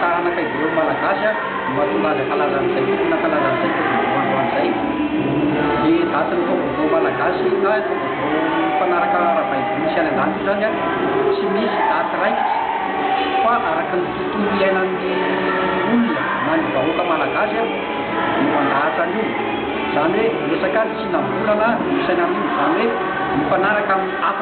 Taranaka Hebreo Malagasy no mahatonga azy hankalaza an'izay tokony hankalaza an'izay taovaovao androany izay. Ny datin'ny taovaovao malagasy na taovaovao mifanaraka ara-baiboly sy any an-danitra izany tsy misy daty raikitra fa araka ny tontolo iainan'ny olona na ny vahoaka malagasy no mandahatra an'io. Izany hoe resaka ny tsinam-bolana no isaina amin'io. Izany hoe mifanaraka amin'ny hafa.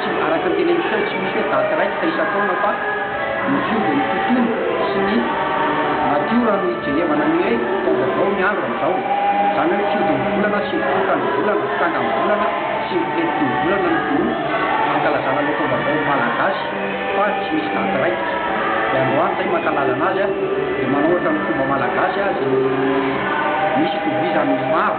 Tsy, araka ny teneniko teo, tsy misy hoe daty raikitra isan-taona fa ny fiovy ny tontolo sy ny natiora no ijerevana ny hoe taom-baovao ny andro amin'izao e! Izany hoe fiody ny volana sy ny fiokan'ny volana, fitangan'ny volana sy ny filentika ny volana no ankalazana ilay taom-baovao malagasy fa tsy misy daty raikitra. Dia androany izay mankalazana azy dia manao ohatra ny fomba malagasy izay misy itovizan'ny maro.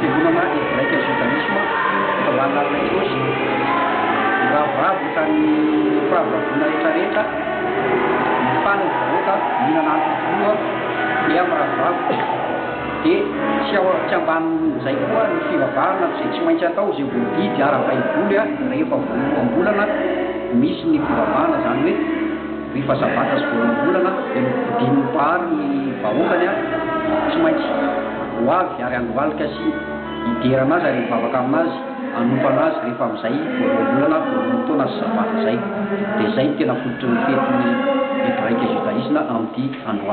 Fiangonana Hebraika Judaisme eto Analina Jesosy miravoravo tamin'ny fahababoana rehetrarehetra mifana ny vahoaka mihinana ampy voa dia miravoravo dia tsy ao tsy ambanin'izay koa ny fivavahana izay tsy maintsy atao izay voadidy ara-baiboly rehefa voaloham-bolana misy ny fivavahana izany hoe Rehefa zavatra sy voaolom-bolana dia novidian'ny Mpahary ny vahoakany ary tsy maintsy ho avy ary handohalika sy hiderana azy ary hivavaka amin'azy hanompo an'azy rehefa amin'izay voaloham-bolana voalohan-taona sy sabata izay dia izay no tena fototry ny fetin'ny hebraika judaisme amin'ity androany